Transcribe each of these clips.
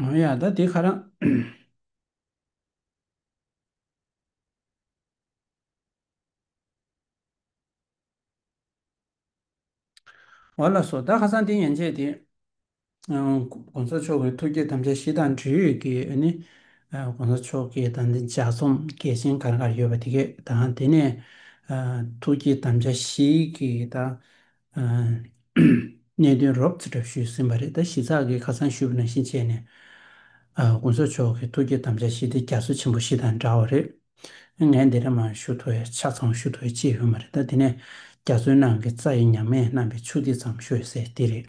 མང་ཡང་ད་དེ་ཁ་རང། བ་ལ་སོགས་ད་ཁ་སང་དེ་ཡན་ཆད་དེ། གོང་ས་མཆོག་གི་ཐུགས་བསྐྱེད་དམ་བཅའ་བཞི་དང་འབྲེལ་ཡོད་ཀྱི་ནི། གོང་ས་མཆོག་གི་དང་འདི་ལྗགས་རྩོམ་གལ་ཆེན་ག་རེ་ག་རེ་ཡོད་པ་དེ་གས་དང་དེ་ནས། ཐུགས་བསྐྱེད་དམ་བཅའ་བཞིའི་གི་དང། གནད་དོན་རོབ་ཙེ་གྲབས་ཞུས་ཟིན་པ་རེད་ད་གཞི་ཚགས་ཀྱི་ཁ་སང་ཞུས་པ་ནང་བཞིན་བྱས་ནས་དགུན་ཚོགས་མཆོག་གི་ཐུགས་བསྐྱེད་དམ་བཅའ་ཞི་བདེ་རྒྱ་མཚོ་ཆེན་པོ་ཞིག་དང་འདྲ་བ་རེད། ངས་འདི་འདྲ་མ་ཞུ་ཐུབ་བས་ཆ་ཚང་ཞུ་ཐུབ་བས་ཅི་ཡོད་མ་རེད་ད་དེ་ནས་རྒྱ་མཚོའི་ནང་གི་རྩྭ་ཡི་ཉག་མས་བསྣམས་པའི་ཆུ་ཐིགས་ཙམ་ཞུ་ཡོད་ཟེར་དེ་རེད།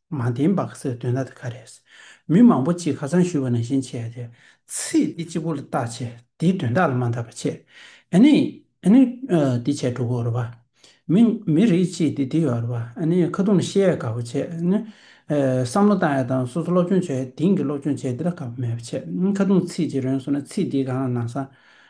མ་བདེན་པ་ཟེར་དོན་ད་ལྟ་ག་རེད། མི་མང་པོ་གཅིག་ཁ་ཚང་ཞུས་པ་ནང་བཞིན་བྱས་ཏེ། ཚིག་འདི་གཅིག་པོ་ལ་བརྟག་བྱས་དེའི་དོན་དག་ལ་མ་འདང་བ་བྱས། ཨ་ནི། ཨ་ནི། འདི་བྱས་འགྲོ་དགོས་རེད་བ། མི། མི་རིགས་གཅིག་འདི་འདི་ཡོད་རེད་བ། ཨ་ནི། ཁ་རྡུང་ལ་བཤད་ཡ་དགའ་བ་བྱས། ཨ་ནི། བསམ་བློ་བཏང་ཡ་དང་སོ་སོ་སློབ་སྦྱོང་བྱས་ཡ་དེང་གི་སློབ་སྦྱོང་བྱས་འདི་ལ་དགའ་བ་མེད་བ་བྱས། ཁ་རྡུང་ཚིག་གཅིག་རོན་སོང་ན་ཚིག་འདིའི་སྒང་ལ་ནང་བཟང།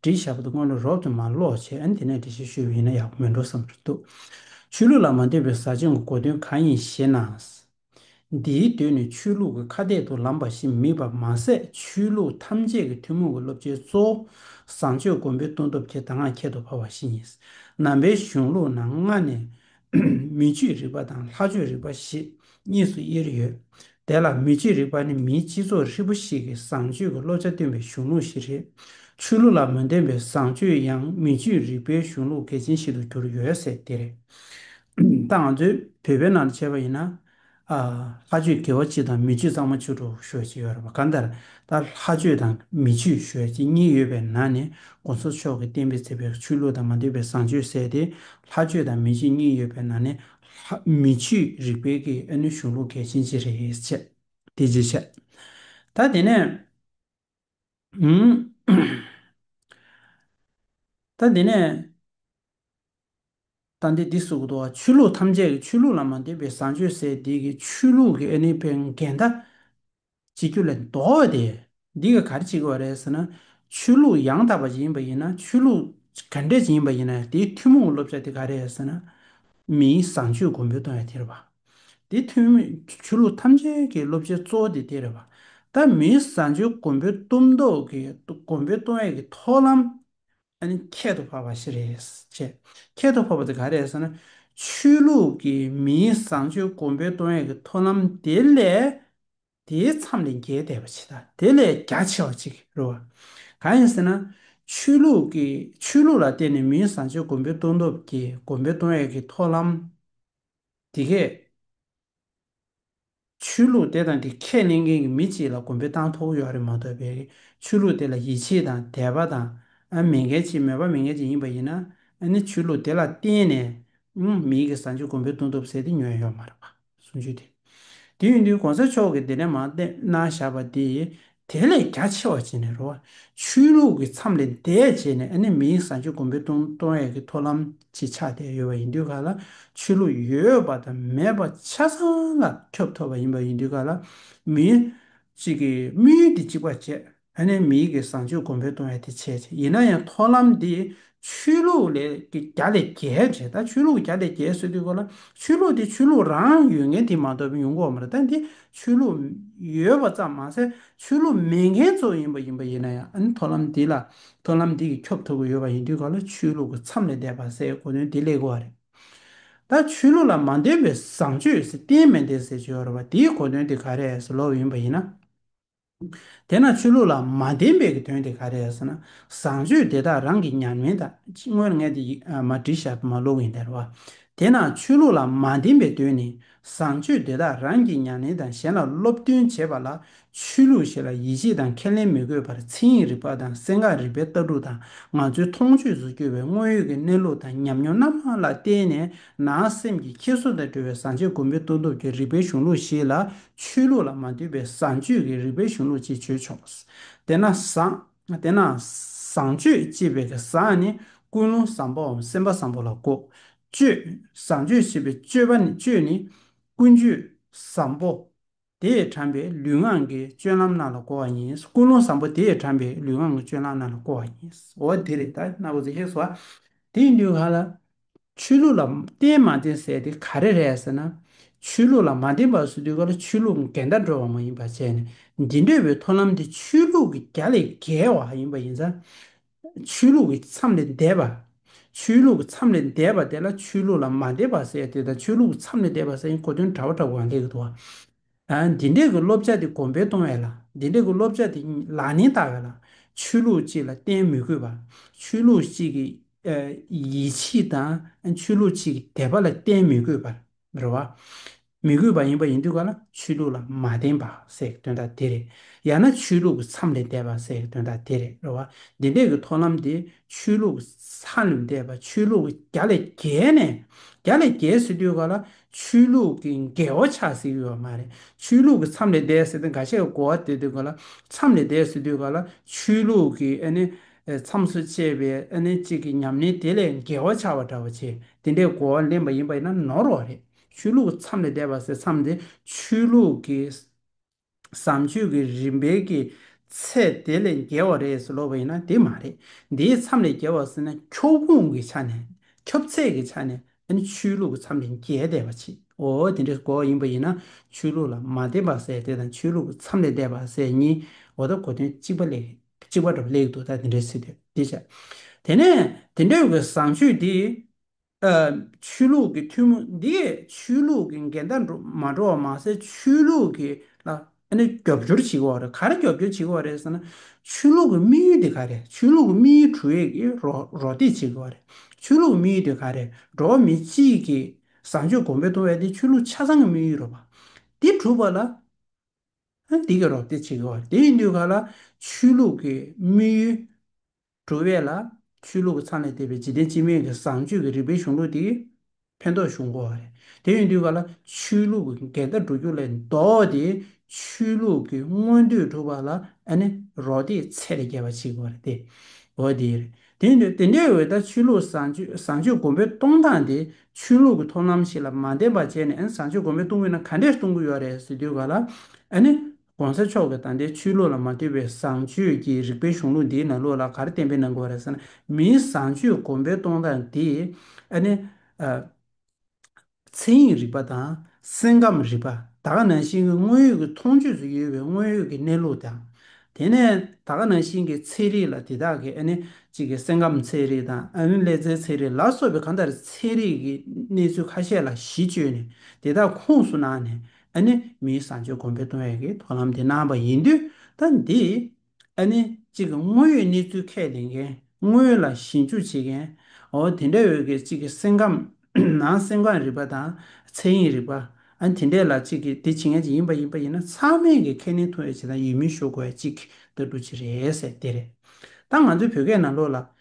འབྲི་བྱ་བ་དེ་སྔོན་ལ་རོགས་ཀྱིས་མ་ཀློག་བྱས་ཨ་ནི་དེ་ནས་འབྲི་བྱེད་ཤོད་ཡིན་ན་ཡག་པོ་མི་འགྲོ་བསམ་གྱི་འདུག་ཆོས་ལུགས་ལ་མ་འདོད་པའི་ཟ་ཆེན་གྱི་གོ་དོན་གང་ཡིན་ཞེ་ན། འདིའི་མདུན་ནས་ཆོས་ལུགས་ཀྱི་ཁ་གཏད་དུ་ལམ་པ་ཞིག་དམིགས་པ་མ་ཟད་ཆོས་ལུགས་ཐམས་ཅད་ཀྱི་ཐུན་མོང་གི་སློབ་ཆེན་གཙོ་བོ་བཟང་སྤྱོད་མགོན་པོའི་སྟོན་སྟོབས་ཀྱི་གདམས་ངག་ཁྱད་དུ་འཕགས་པ་ཞིག་ཡིན། ནང་པའི་གཞུང་ལུགས་ནང་སྔ་ནས་མི་ཆོས་རིག་པ་དང་ལྷ་ཆོས་རིག་པ་ཞེས་གཉིས་སུ་དབྱེར་ཡོད། དེ་ལ་མི་ཆོས་རིག་པ་ནི་མིའི་སྤྱི་ཚོགས་ཧྲིལ་པོ་ཞིག་གི་བཟང་སྤྱོད་ཀྱི་བློ་རྒྱ་སྟོན་པའི་གཞུང་ལུགས་ཤིག་རེད། ཆོས་ལུགས་ལ་མི་འདོན་པའི་བཟང་སྤྱོད་ཡང་མི་ཆོས་རིག་པའི་གཞུང་ལུགས་གལ་ཆེན་ཞིག་ཏུ་གྱུར་ཡོད་ཟེར་དེ་རེད། ད་ང་ཚོས་བོད་པའི་ནང་དུ་བྱས་པ་ཡིན་ན། ལྷ་ཆོས་དགེ་བ་སྤྱི་དང་མི་སྤྱི་གཙང་མ་ཆོས་དྲུག་ཤོད་ཅེས་ཡོད་རབས་གང་ལྟར་ད་ལྷ་ཆོས་དང་མི་ཆོས་ཤོད་ཅེས་གཉིས་ཡོད་པའི་ནང་ནས་གོང་ས་མཆོག་གི་བསྟན་པའི་ཚེ་བའི་ཆོས་ལུགས་དང་མ་འདོད་པའི་བཟང་སྤྱོད་བསལ་ཏེ་ལྷ་ཆོས་དང་མི་ཆོས་གཉིས་ཡོད་པའི་ནང་ནས་མི་ཆོས་རིག་སྤེལ་གྱི་ཨེ་ནུ་གཞུང་ལུགས་གལ་ཆེན་ཅི་རེད་ཅེས་དེ་རྗེས་བཤད། ད་དེ་ནས། ད་འདི་ནས། ད་འདི་འདི་སོགས་དུ་བ་ཆོས་ལུགས་ཐམས་ཅད་ཀྱི་ཆོས་ལུགས་ལ་མ་འདུས་པའི་བཟང་སྤྱོད་ཟས་སྡིག་གི་ཆོས་ལུགས་ཀྱི་ཨེ་ནི་པའི་འགལ་ཟླ། བྱེད་རྒྱུ་ལས་ལྡོག་བ་དེ་འདི་ག་གར་བྱེད་དགོས་པ་རེད་ཟེར་ན། ཆོས་ལུགས་ཡང་དག་པ་ཅན་ཡིན་པ་ཡིན་ན་ཆོས་ལུགས་ག་འདྲས་ཅན་ཡིན་པ་ཡིན་ན་དེའི་ཐུན་མོང་བསླབ་བྱ་དེ་ག་རེད་ཟེར་ན། མིའི་བཟང་སྤྱོད་གོང་འཕེལ་གཏོང་ཡ་དེ་རེད་པཱ། དེ་ཐུན་མོད་ཆོས་ལུགས་ཐམས་ཅད་ཀྱི་སློབ་བྱའི་གཙོ་བོ་དེ་དེ་རེད། ད་མིའི་བཟའ་འཇོའི་མགོན་པོའི་གཏུམ་མདོག་གི་མགོན་པོའི་སྟོང་ཡེ་གི་ཐོག་ལམ་ཨཱ་ཁྱད་དུ་འཕགས་པ་ཞིག་རེད། ཁྱད་དུ་འཕགས་པ་དེ་ག་རེད་ཟེར་ན། ཆོས་ལུགས་ཀྱི་མིའི་བཟང་སྤྱོད་མགོན་པོའི་སྟོང་ཡེ་གི་ཐོག་ལམ་དེ་ལས་དེའི་མཚམས་ལས་འགལ་འདས་པ་ཆེ་དང་དེ་ལས་རྒྱ་ཆེ་བ་ཅིག་རེད་བ། གང་ཡིན་ཟེར་ན། ཆོས་ལུགས་ཀྱི་ཆོས་ལུགས་ལ་བརྟེན་ནས་མིའི་བཟང་སྤྱོད་མགོན་པོའི་སྟོང་སྟོབས་ཀྱི་མགོན་པོའི་སྟོང་ཡེ་གི་ཐོག་ལམ། འདི་སྐད། ཆོས་ལུགས་དེ་དང་དེ་ཁས་ལེན་མཁན་གྱི་མི་གཅིག་ལ་དགོན་པའི་སྟངས་ཐོག་གཡོག་རེ་མ་གཏོགས་པའི་ཆོས་ལུགས་དེ་ལ་ཡིད་ཆེས་དང་དད་པ་དང་མི་འགལ་ཅིག་མོས་པ་མི་འགལ་ཅིག་ཡིན་པ་ཡིན་ན་ནི་ཆོས་ལུགས་དེ་ལ་བརྟེན་ནས་མི་ཡི་གི་བཟའ་མཆོད་དགོན་པའི་གདུང་ཐོབ་ཟེར་དེ་ཉོན་ཡོད་མ་རེད་པ་གསུང་ཆོས་དེ་དེ་ཡིན་དུས་གོང་ས་མཆོག་གི་དེ་འདྲའི་མ་གཏད་ན་བཞག་པ་དེ་དེ་ལས་རྒྱ་ཆེ་བ་བྱས་ནས་རོ། ཆོས་ལུགས་ཀྱི་མཚམས་ལས་འདས་བྱས་ནས་ཨ་ནི་མིའི་བཟང་སྤྱོད་གོང་འཕེལ་གཏོང་གཏོང་ཡས་ཀྱི་ཐོ་ལམ་ཅིག་ཆགས་བསྡད་ཡོད་པ་ཡིན་དུས་ག་ལ་ཆོས་ལུགས་ཡོད་པ་དང་མེད་པ་ཆ་ཚང་ལ་ཁྱབ་ཐོབ་པ་ཡིན་པ་ཡིན་དུས་ག་ལ་མིའི་གཅིག་གིས་དམིགས་ཡུལ་དེ་གཅིག་པ་བྱས་ཨ་ནི་མིའི་གི་བཟང་སྤྱོད་གོང་འཕེལ་གཏོང་ཡས་དེ་བྱས་ཡིན་ན་ཡང་ཐོ་ལམ་དེ་ཆོས་ལུགས་ལས་ཀྱི་བརྒྱ་ལས་བརྒྱའི་འབྲེལ་ཐག་ཆོས་ལུགས་ཀྱི་བརྒྱ་ལས་བརྒྱའི་སྲོལ་བཏོད་དགོས་ལ། ཆོས་ལུགས་དེ་ཆོས་ལུགས་རང་ཡོད་མཁན་དེ་མ་གཏོགས་པའི་ཡོང་ཁུངས་མ་རེད་ད་འདི་ཆོས་ལུགས་ཡོད་པ་ཙམ་མ་ཟད་ཆོས་ལུགས་མེད་མཁན་ཚོ་ཡིན་པ་ཡིན་པ་ཡིན་ན་ཡང་ཨ་ནི་མཐོང་ལམ་འདི་ལ་མཐོང་ལམ་འདི་གི་ཁྱོབ་ཐུབ་ཀྱི་ཡོད་པ་ཡིན་དུས་ག་ལ་ཆོས་ལུགས་ཀྱི་མཚམས་ལས་འདས་པ་ཟེར་གོ་དོན་དེ་ལེགས་གོ་བ་རེད། ད་ཆོས་ལུགས་ལ་མ་འདོད་པའི་བཟང་སྤྱོད་ཟེར་བསྟན་མེད་འདས་ཟེར་བྱས་ཡོད་རེད་བ་དེའི་གོ་དོན་དེ་ག་རེ་ཟེར་ལོག་ཡིན་པ་ཡིན་ན། དེས་ན་ཆོས་ལུགས་ལ་མ་བདེན་པའི་གི་དོན་དེ་ག་རེ་རེད་ཟེར་ན། བཟང་སྤྱོད་དེ་དག་རང་གི་ཉམས་ལེན་དང་དངོས་ངེས་དེ་ཡིག་མ་བྲིས་ཞབས་མ་བླུགས་ཡིན་དར་བ། དེས་ན་ཆོས་ལུགས་ལ་མ་བདེན་པའི་དོན་ནི་བཟང་སྤྱོད་དེ་དག་རང་གི་ཉམས་ལེན་དང་གཞན་ལ་སློབ་སྟོན་བྱེད་པ་ལ་ཆོས་ལུགས་ཞེས་ལ་ཡིད་ཆེས་དང་ཁས་ལེན་མི་དགོས་པར་མཚན་ཡིག་རིག་པ་དང་སེང་གག་རིག་པའི་ལྟ་གྲུབ་དང་ང་ཚོའི་མཐོང་ཆོས་སུ་གྱུར་བའི་དངོས་ཡོད་ཀྱི་གནས་ལུགས་དང་ཉམས་མྱོང་སྣ་མང་ལ་བརྟེན་ནས་ནང་སེམས་ཀྱི་འཁྱེར་སོ་དང་འབྲེལ་བའི་བཟང་སྤྱོད་གོ་མི་མཐོང་སྟོབས་ཀྱི་རིག་པའི་གཞུང་ལུགས་ཤིག་ལ་ཆོས་ལུགས་ལ་མ་ལྟོས་པའི་བཟང་སྤྱོད་ཀྱི་རིག་པའི་གཞུང་ལུགས་ཅེས་བརྗོད་ཆོག། དེས་ན། བཟང་སྤྱོད་ཅེས་པའི་བཟང་ནི་ཀུན་སློང་བཟང་པོའམ་སེམས་པ་བཟང་པོ་ལ་གོ། སྤྱོད། བཟང་སྤྱོད་ཅེས་པའི་སྤྱོད་ནི་ཀུན་སྤྱོད་བཟང་པོ་དེས་དྲངས་པའི་ལུས་ངག་གི་སྤྱོད་ལམ་རྣམས་ལ་གོ་བ་ཡིན། ཀུན་སློང་བཟང་པོ་དེས་དྲངས་པའི་ལུས་ངག་གི་སྤྱོད་ལམ་རྣམས་ལ་གོ་བ་ཡིན། འོ་དེ་རེད། དེ་ཡིན་དུས་ག་ལ། ཆོས་ལུགས་ལ་བརྟེན་མ་བརྟེན་ཟེར་དེ་ག་རེ་རེད་ཟེར་ན། ཆོས་ལུགས་ལ་མ་བརྟེན་པར་སུ་དུས་ག་ལ་ཆོས་ལུགས་འགལ་ཟླ་འགྲོ་བ་མ་ཡིན་པ་བྱས་ནས་འདི་འདོད་པའི་ཐོ་ལམ་དེ་ཆོས་ལུགས་ཀྱི་རྒྱ་ལས་བརྒལ་བ་ཡིན་པ་ཡིན་ས། ཆོས་ལུགས་ཀྱི་མཚམས་ལས་འདས་པ། ཆོས་ལུགས་ཀྱི་མཚམས་ལས་འདས་པ་དེ་ལ་ཆོས་ལུགས་ལ་མ་བརྟེན་པར་ཟེར་དེ་དང་ཆོས་ལུགས་ཀྱི་མཚམས་ལས་འདས་པ་ཟེར་གྱིན་གོ་དོན་འདྲ་བོ་འདྲ་བོ་འགའ་ལས་གི་འདུག་བ། འདི་འདྲས་ཀྱི་སློབ་བྱ་དེ་གོང་འཕེལ་གཏོང་བའི་ལ། འདི་འདྲས་ཀྱི་སློབ་བྱ་དེ་ལག་ལེན་བསྟར་བའི་ལ། ཆོས་ལུགས་གཅིག་ལ་བརྟེན་མི་དགོས་པར། ཆོས་ལུགས་གཅིག་གི་ཡིད་ཆེས་དང་ཆོས་ལུགས་གཅིག་གི་དད་པ་ལ་བརྟེན་མི་དགོས་པར་རེད་བ། མི་དགོས་པ་ཡིན་པ་ཡིན་དུས་ག་ལ་ཆོས་ལུགས་ལ་མ་བརྟེན་པ་ཟེར་གི་དོན་དག་དེ་རེད། ཡང་ན་ཆོས་ལུགས་ཀྱི་མཚམས་ལས་འདས་པ་ཟེར་གི་དོན་དག་དེ་རེད་རེད་བ། འདི་འདྲས་ཀྱི་མཐོང་ལམ་དེ་ཆོས་ལུགས་ཀྱི་མཚམས་ལས་འདས་པ་ཆོས་ལུགས་ཀྱི་རྒྱ་ལས་བརྒལ་ནས་རྒྱ་ལས་བརྒལ་ཟེར་དུས་ག་ལ་ཆོས་ལུགས་ཀྱི་འགལ་བ་ཆགས་ཟིན་ཡོད་མ་རེད། ཆོས་ལུགས་ཀྱི་མཚམས་ལས་འདས་ཟེར་ཏེ་འགའ་ཤས་ཀྱིས་གོ་བ་དེ་དུས་ག་ལ་མཚམས་ལས་འདས་སུ་དུས་ག་ལ་ཆོས་ལུགས་ཀྱི་ཨ་ནི་མཚམས་སུ་བཅད་པའི་ཨ་ནི་གཅིག་གི་ཉམས་ལེན་དེ་ལས་འགལ་བ་ཆགས་པ་འདྲ་བོ་བྱེད་དེ་འདྲའི་གོ་བ་ལེན་པ་ཡིན་པ་ཡིན་ན་ནོར་བ་རེད། ཆོས་ལུགས་ཀྱི་མཚམས་ལས་འདས་པ་ཟེར་མཚམས་དེ་ཆོས་ལུགས་ཀྱི། བཟང་སྤྱོད་ཀྱི་རིམ་པའི་ཀྱི་ཚད་དེ་ལས་འགལ་བ་རེད་ཟེར་ལོ་བ་ཡིན་ན་དེ་མ་རེད། དེའི་མཚམས་ལས་འགལ་བ་ཟེར་ན་ཁྱོ་གུང་གི་ཆ་ནས་ཁྱབ་ཚད་ཀྱི་ཆ་ནས་ཨ་ནི་ཆོས་ལུགས་ཀྱི་མཚམས་ལས་འགལ་བསྡད་པ་ཆེ་འོ་དེ་འདྲའི་གོ་བ་ཡིན་པ་ཡིན་ན་ཆོས་ལུགས་ལ་མ་བརྟེན་པ་ཟེར་དེ་དང་ཆོས་ལུགས་ཀྱི་མཚམས་ལས་བསྡད་པ་ཟེར་གཉིས་འོ་ད་གོ་དོན་གཅིག་པ་ལེགས་གཅིག་པ་འདྲ་བ་ལེགས་འདུག་ད་དེ་འདྲའི་ཚིག་དེ་འདི་བྱ། དེ་ནས་དེ་འདྲའི་བའི་བཟང་སྤྱོད་དེ། ཆོས་ལུགས་ཀྱི་ཐུན་མོང་འདིས་ཆོས་ལུགས་ཀྱི་འགལ་ཟླ་འགྲོ་མ་འགྲོ་བ་མ་ཟད་ཆོས་ལུགས་ཀྱི་ལ་རྒྱབ་སྐྱོར་བྱེད་དགོས་བ་རེད་ག་རེ་རྒྱབ་སྐྱོར་བྱེད་དགོས་བ་རེད་ཟེར་ན་ཆོས་ལུགས་ཀྱི་དམིགས་ཡུལ་དེ་ག་རེད་ཆོས་ལུགས་ཀྱི་དམིགས་ཡུལ་དྲུག་ཡིག་གིས་རོགས་འདེགས་བྱེད་དགོས་བ་རེད་ཆོས་ལུགས་ཀྱི་དམིགས་ཡུལ་དེ་ག་རེད་འགྲོ་བ་མི་གཅིག་གི་བཟང་སྤྱོད་གོང་འཕེལ་གཏོང་བའི་དེ་ཆོས་ལུགས་ཆ་ཚང་གི་དམིགས་ཡུལ་རོ་བ་དེ་གྲུབ་པ་ལ་འདི་གིས་རོགས་འདེགས་བྱེད་དགོས་བ་རེད་དེ་ཡིན་དུས་ག་ལ་ཆོས་ལུགས་ཀྱི་དམིགས་ཡུལ། བྲོ་བས་ལ། ཆོས་ལུགས་ཀྱི་ཚང་ལས་འདས་པའི་འཇིག་རྟེན་སྤྱི་སྨན་གྱི་བཟང་སྤྱོད་ཀྱི་རིག་པའི་གཞུང་ལུགས་དེ། ཕན་འདོགས་ཞུ་འགོ་བ་རེད། དེ་ཡོང་དུས་ག་ལ་ཆོས་ལུགས་ཀྱི་འགལ་ཟླ་འགྲོ་རྒྱུ་ལས་ལྡོག་སྟེ། ཆོས་ལུགས་ཀྱི་མངོན་འདོད་སྒྲུབ་པ་ལ་ཨ་ནི་རོགས་འདེགས་ཚད་ལས་བརྒལ་བ་བྱེད་དགོས་པ་རེད་དེ། འོ་དེ་རེད། དེ་ཡོང་དུས་དེ་འདྲའི་འོད་ལྟར་ཆོས་ལུགས་བཟང་སྤྱོད་བཟང་སྤྱོད་སྒོམ་པའི་གཏོང་སྟངས་དེ་ཆོས་ལུགས་ཀྱི་ཐོབ་ལམ་ཞིག་ལ་མ་འདེམས་པར་བྱས་ནས་ཨ་ནི་བཟང་སྤྱོད་སྒོམ་པའི་གཏོང་དགོས་ན་ག་འདྲས་གཏོང་གི་ཡོད་རེད་ཟེར་དུས་ག་ལ་ཨ་ནི ྋགོང་ས་མཆོག་གིས་ད་ལྟའི་ཆོས་ལུགས་ལ་མ་ལྟོས་པའི་བཟང་སྤྱོད་ཀྱི་རིག་པའི་གཞུང་ལུགས་འདིའི་ནང་ལུགས་ལ་གར་བསྟན་པའི་ནང་གོ་རེ་ཟེར་ན་མིའི་བཟང་སྤྱོད་གོམས་པའི་གཏོང་སྟངས་དེ་ཨ་ནི། མཚན་ཉིད་རིག་པ་དང་སེམས་ཁམས་རིག་པ་ད་ག་ནང་བཞིན་གྱི་དངོས་ཡོད་ཀྱི་མཐོང་ཆོས་སུ་ཡོད་པའི་དངོས་ཡོད་ཀྱི་གནས་ལུགས་དང། དེ་ནས་ད་ག་ནང་བཞིན་གྱི་ཚན་རིག་ལ་དེ་དག་གི་ཨ་ནི་གཅིག་གི་སེམས་ཁམས་ཚན་རིག་དང་ཨ་ནི་ཀླད་རྩའི་ཚན་རིག་ལ་སོགས་པའི་གང་ལྟར་ཚན་རིག་གི་གནས་ཚུལ་ཁ་ཤས་ལ་གཞི་བཅོལ་ནས་དེ་དག་ཁུངས་སུ་བླངས་ནས་ཨ་ནི་མིའི་བཟང་སྤྱོད་གོང་འཕེལ་གཏོང་བའི་གི་དོ་ལམ་དེ་གནང་བ་ཡིན་དུས་ད་འདི། ཨ་ནི་གཅིག་གི་དངོས་ཡོད་གནས་ཚུལ་ཁས་ལེན་མཁན་དངོས་ལ་ཞིབ་འཇུག་བྱེད་མཁན། འོ་དེ་འདྲའི་འོད་གི་གཅིག་གི་སེམས་ཁམས་ནང་སེམས་ཁམས་རིག་པ་དང་ཚད་ཡིན་རིག་པ། ཨ་དེ་འདྲས་ལ་གཅིག་གི་དེ་བྱེད་མཁན་གཅིག་ཡིན་པ་ཡིན་པ་ཡིན་ན་ཚང་མས་གི་ཁས་ལེན་ཐུབ་ཡོད་བྱེད་དང་ཡོད་མིན་ཞུ་དགོས་ཡ་གཅིག་ད་འདྲུ་གཅིག་རེད་ཟེར་དེ་རེད། ད་ང་ཚོའི་བོད་སྐད་ནང་ལོགས་ལ་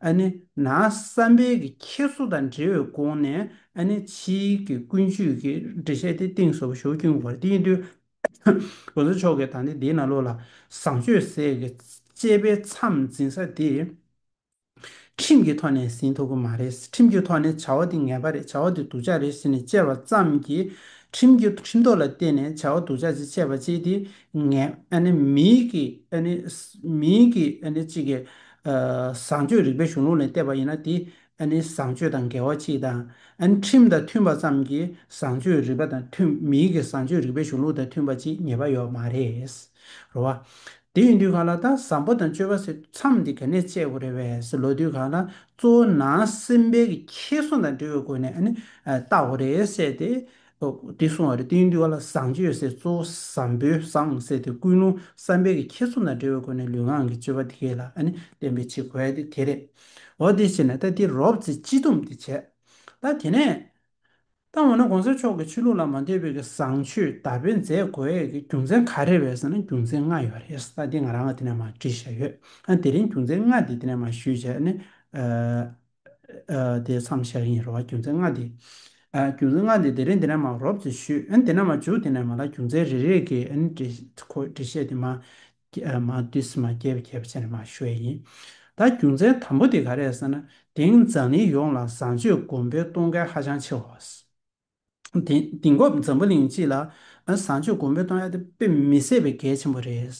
ཨ་ནི་ན་བསམ་འཕེལ་གྱི་འཁྱེར་བཟོ་དང་འབྲེལ་བའི་སྒོ་ནས་ཨ་ནི་ཕྱི་གི་ཀུན་སྤྱོད་ཀྱི་འགྲེལ་བཤད་དེ་གཏིང་ཟབ་ཞོག་ཁྱུང་བར་དེའི་དུས་གོ་ས་མཆོག་གི་ད་ནི་དེའི་ན་ལོ་ལ་བཟང་སྤྱོད་ཟས་ཀྱི་དཔྱད་པའི་མཚམས་འཛིན་ས་དེ་ཁྲིམས་ཀྱི་ཐོག་ནས་ཟིན་ཐུབ་ཀྱི་མ་རེད་ཁྲིམས་ཀྱི་ཐོག་ནས་བྱ་བ་འདི་ངན་པ་རེད་བྱ་བ་འདི་སྡུག་ཅག་རེད་ཟེར་ནས་དཔྱད་པ་ཙམ་གྱིས་ཁྲིམས་ཀྱི་ཁྲིམས་ཐོག་ལ་བརྟེན་ནས་བྱ་བ་སྡུག་ཅག་ཅིག་དཔྱད་པ་བྱེད་དེ་ངན་ཨ་ནི་མིའི་གིས་ཨ་ནི་མིའི་གིས་ཨ་ནི་གཅིག་གིས། བཟང་སྤྱོད་རིག་པའི་གཞུང་ལུགས་ནས་བལྟས་པ་ཡིན་ན་དེ་ཨ་ནི་བཟང་སྤྱོད་དང་འགལ་བ་ཅི་དང། ཨ་ནི་ཁྲིམས་དང་མཐུན་པ་ཙམ་གྱིས་བཟང་སྤྱོད་རིག་པ་དང་མཐུན་མིན་གྱི་བཟང་སྤྱོད་རིག་པའི་གཞུང་ལུགས་དང་མཐུན་པ་ཅིག་ངེས་པ་ཡོད་མ་རེད། རེད་བ། དེ་ཡིན་དུས་གང་ལ་ད་བཟང་པོ་དང་སྤྱོད་པ་ཟེར་དུས་མཚམས་འདི་ག་ནས་བཅད་དགོས་རེད་བས་ལོ་དུས་གང་ལ་གཙོ་བོ་ནང་སེམས་དཔལ་གྱི་ཁྱད་སོང་དང་འབྲེལ་བའི་སྒོ་ནས་ཨ་ནི་བལྟ་དགོས་རེད་བསད་དེ། ཨོ། དེ་གསུང་བ་རེད་དེ་ཡིན་དུས་ཨ་ལ་བཟང་སྤྱོད་ཡོད་སའི་གཙོ་བོ་བཟང་པོའི་བཟང་ཟེར་དེ་ཀུན་སློང་བསམ་པའི་གི་ཁྱེད་ཚོ་དང་འབྲེལ་བའི་སྒོ་ནས་ལུས་ངག་གི་སྤྱོད་པ་དེ་གས་ལ་ཨ་ནི་བསྟེན་པའི་ཆེད་གོལ་དེ་དེ་རེད། འོ་དེ་བྱས་ན་ད་དེ་རོབ་ཚེ་སྤྱི་སྡོམ་དེ་བྱས། ད་དེ་ནས། ད་འོ་ན་གོང་ས་མཆོག་གི་ཆོས་ལུགས་ལ་མ་འདོད་པའི་གི་བཟང་སྤྱོད་དར་སྤེལ་མཛད་དགོས་ཡས་གི་རྒྱུ་མཚན་ག་རེ་རེད་ཟེར་ན་རྒྱུ་མཚན་ལྔ་ཡོད་རེད་ད་དེ་ང་རང་ང་དེ་ནས་མ་བྲིས་བཞག་ཡོད་ཨ་དེ་རིང་རྒྱུ་མཚན་ལྔ་དེ་དེ་ནས་མ་ཞུས་བྱས་ཨ་ནི། དེ་བསམ་བཞག་ཡིན་རུང་བ་རྒྱུ་མཚན་ལྔ་འདི། རྒྱུ་མཚན་ལྔ་འདི་དེ་རིང་དེ་ནས་མ་རོབ་ཅིག་ཞུས། དེ་ནས་མ་བཅུག་དེ་ནས་མ་ལ་རྒྱུ་མཚན་རེ་རེ་གི་འབྲི་བཤད་དེ་མ་བསྡུས་སུ་མ་རྒྱས་པའི་ཁྱད་པར་ཅན་རེ་མ་ཞུ་བས་ཡིན། ད་རྒྱུ་མཚན་དམ་པོ་དེ་ག་རེད་ཟེར་ན་དེང་འཛམ་གླིང་ཡོངས་ལ་བཟང་སྤྱོད་གོམས་པའི་གཏོང་མཁན་ཧ་ཅང་ཆེ་བ། དེང་སྐབས་འཛམ་བུ་གླིང་སྤྱི་ལ་བཟང་སྤྱོད་གོང་འཕེལ་གཏོང་ཡ་དེ་དཔེ་མི་སྲིད་པའི་གལ་ཆེན་པོ་རེད།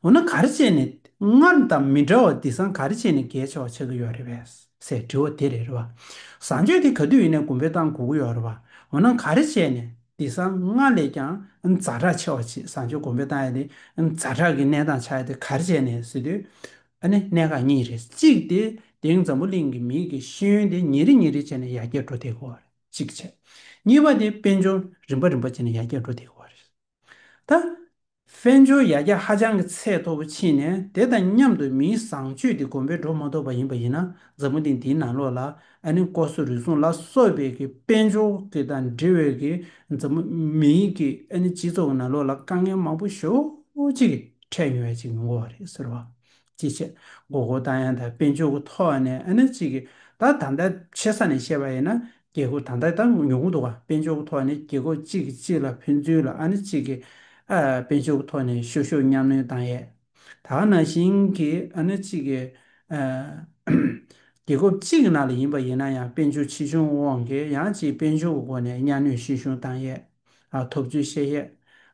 འོ་ན་ག་རེ་བྱས་ནས་སྔར་དང་མི་འདྲ་བ་འདི་སང་ག་རེ་བྱས་ནས་རྒྱལ་ཆེ་བ་ཆགས་ཀྱི་ཡོད་རེད་བས་སའི་དྲི་བ་དེ་རེད་རེད་བ། བཟང་སྤྱོད་དེ་ག་དུས་ཡིན་ནས་གོང་འཕེལ་བཏང་དགོས་ཀྱི་ཡོད་རེད་བ། འོ་ན་ག་རེ་བྱས་ནས་འདི་སང་སྔར་ལས་ཀྱང་རྫ་དྲག་ཆེ་བ་བཟང་སྤྱོད་གོང་འཕེལ་བཏང་ཡ་དེ་རྫ་དྲག་གི་གནས་སྟངས་ཆགས་ཡ་དེ་ག་རེ་བྱས་ནས་ཟེར་དུས་ཨ་ནི་གནད་འགག་གཉིས་རེད་གཅིག་དེ་དེང་འཛམ་བུ་གླིང་གི་མིའི་གི་ཤེས་ཡོན་དེ་ཉིན་རེ་ཉིན་རེ་བྱས་ནས་ཡར་རྒྱས་འགྲོ་བསྡད་དགོས་བ་རེད། གཅིག་བྱས། གཉིས་པ་དེ་དཔལ་འབྱོར་རིམ་པ་རིམ་པ་བྱས་ནས་ཡར་རྒྱས་འགྲོ་བདེ་བ་རེད། ད། དཔལ་འབྱོར་ཡར་རྒྱས་ཧ་ཅང་གི་ཚད་མཐོ་པོ་ཕྱིན་ནས་དེ་དང་མཉམ་དུ་མིའི་བཟང་སྤྱོད་དེ་གོམ་པའི་འགྲོ་མ་ཐོབ་པ་ཡིན་པ་ཡིན་ན་མཛའ་མོ་དེ་འདིའི་ནང་ལོགས་ལ་ཨ་ནི་ལྐོག་ཟ་རུལ་སུངས་ལ་སོགས་པའི་གི་དཔལ་འབྱོར་གི་དང་འབྲེལ་བའི་གི་མཛའ་མོ་མིའི་གི་ཨ་ནི་སྤྱི་ཚོགས་ཀྱི་ནང་ལོགས་ལ་དཀའ་ངལ་མང་པོ་ཞོ་གཅིག་གི་འཕྲད་མྱོང་བའི་གཅིག་མི་འགོ་བ་རེད་ཟེར་བ་ཅེས་བཤད། མགོ་སྐོར་བཏང་ཡང་དང་དཔེ་འཇོག་གི་ཐོག་ཨ་ནེ་ཨ་ནེ་ཅིག་གིས་ད་དང་ད་ཆེ་ས་ནས་བཤད་པ་ཡིན་ན་རྒྱལ་སྒོ་ད་ལྟ་ད་ཉོ་གི་འདུག་ག་དཔེ་འཇོག་གི་ཐོག་ནས་རྒྱལ་སྒོ་གཅིག་གིས་གཅིག་ལ་ཕུལ་ཚུལ་ལ་ཨ་ནེ་ཅིག་གིས་དཔེ་འཇོག་གི་ཐོག་ནས་ཤོ་ཤོ་གཉའ་གནོན་བཏང་ཡས་ད་ག་ན་ཤིང་གིས་ཨ་ནེ་ཅིག་གིས་རྒྱལ་སྒོ་གཅིག་གི་ནང་ལ་ཡིན་པ་ཡིན་ན་ཡང་དཔེ་འཇོག་ཕྱི་བྱུང་དབང་གིས་ཡང་ཅིག་དཔེ་འཇོག་གི་སྒོ་ནས་གཉའ་གནོན་ཤིང་ཤུང་བཏང་ཡས། ཐོབ་ཚུལ་བཤད་ཡས།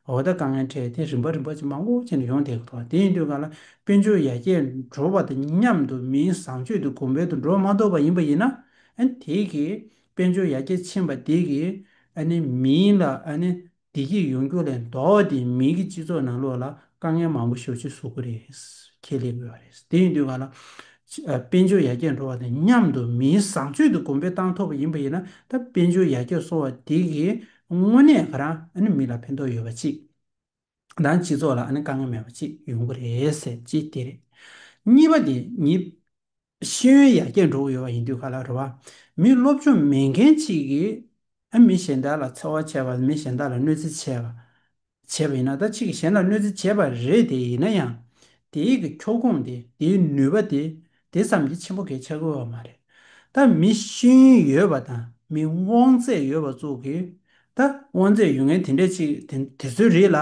འོ་ད་དཀའ་ངལ་འཕྲད་དེ་རིམ་པ་རིམ་པ་ཇེ་མང་དབུགས་ཆེ་ནས་ཡོང་བསྡད་གི་འདུག་དེ་ཡིན་དུས་ག་ལ་དཔལ་འབྱོར་ཡར་རྒྱས་འགྲོ་བ་དང་མཉམ་དུ་མིའི་བཟང་སྤྱོད་དུ་གོང་འཕེལ་དུ་འགྲོ་མ་ཐུབ་པ་ཡིན་པ་ཡིན་ན། དེ་གིས་དཔལ་འབྱོར་ཡར་རྒྱས་ཕྱིན་པ་དེ་གིས། མིའི་ལ་བདེ་སྐྱིད་ཡོང་རྒྱུ་ལས་ལྡོག་སྟེ་མིའི་སྤྱི་ཚོགས་ནང་ལུགས་ལ་དཀའ་ངལ་མང་པོ་ཤོར་ཆེད་བཟོ་དགོས་རེད། ཁྱད་ལས་དགོས་པ་རེད། དེ་ཡིན་དུས་གང་ལ། དཔལ་འབྱོར་ཡར་རྒྱས་འགྲོ་བ་དང་མཉམ་དུ་མིའི་བཟང་སྤྱོད་དུ་གོང་འཕེལ་བཏང་ཐུབ་པ་ཡིན་པ་ཡིན་ན་ད་དཔལ་འབྱོར་ཡར་རྒྱས་སོང་བ་དེ་གིས་དངོས་གནས་ང་རང་མི་ལ་ཕན་ཐོགས་ཡོད་པ་གཅིག་དང་སྤྱི་ཚོགས་ལ་དཀའ་ངལ་མེད་པ་གཅིག་ཡོང་གི་རེད། གཅིག་དེ་རེད། གཉིས་པ་དེ་ཉིད། ཤེས་ཡོན་ཡར་རྒྱས་འགྲོ་གི་ཡོད་པ་ཡིན་དུས་ག་ལ་རེ་བ། མི་སློབ་སྦྱོང་མེད་མཁན་གཅིག་གིས་མི་གཞན་དག་ལ་འཚེ་བ་བྱས་པ་མི་གཞན་དག་ལ་གནོད་འཚེ་བྱས་པ། བྱས་པ་ཡིན་ན་ད་ཕྱིས་ཀྱི་གཞན་ལ་གནོད་འཚེ་བྱས་པ་རེད་དེ་ཡིན་ན་ཡང། དེའི་གི་ཁྱོ་ཁུངས་དེ་དེའི་ནུས་པ་དེ་དེ་ཙམ་གྱིས་ཆེན་པོ་གས་ཆགས་དགོས་བ་མ་རེད། ད་མི་ཤེས་ཡོན་ཡོད་པ་དང་མི་དབང་ཚད་ཡོད་པ་ཙུག་གིས་ད་དབང་ཚད་ཡོད་མཁན་དེ་འདྲས་གཅིག་དེ་དེ་ཚོའི་རིགས་ལ་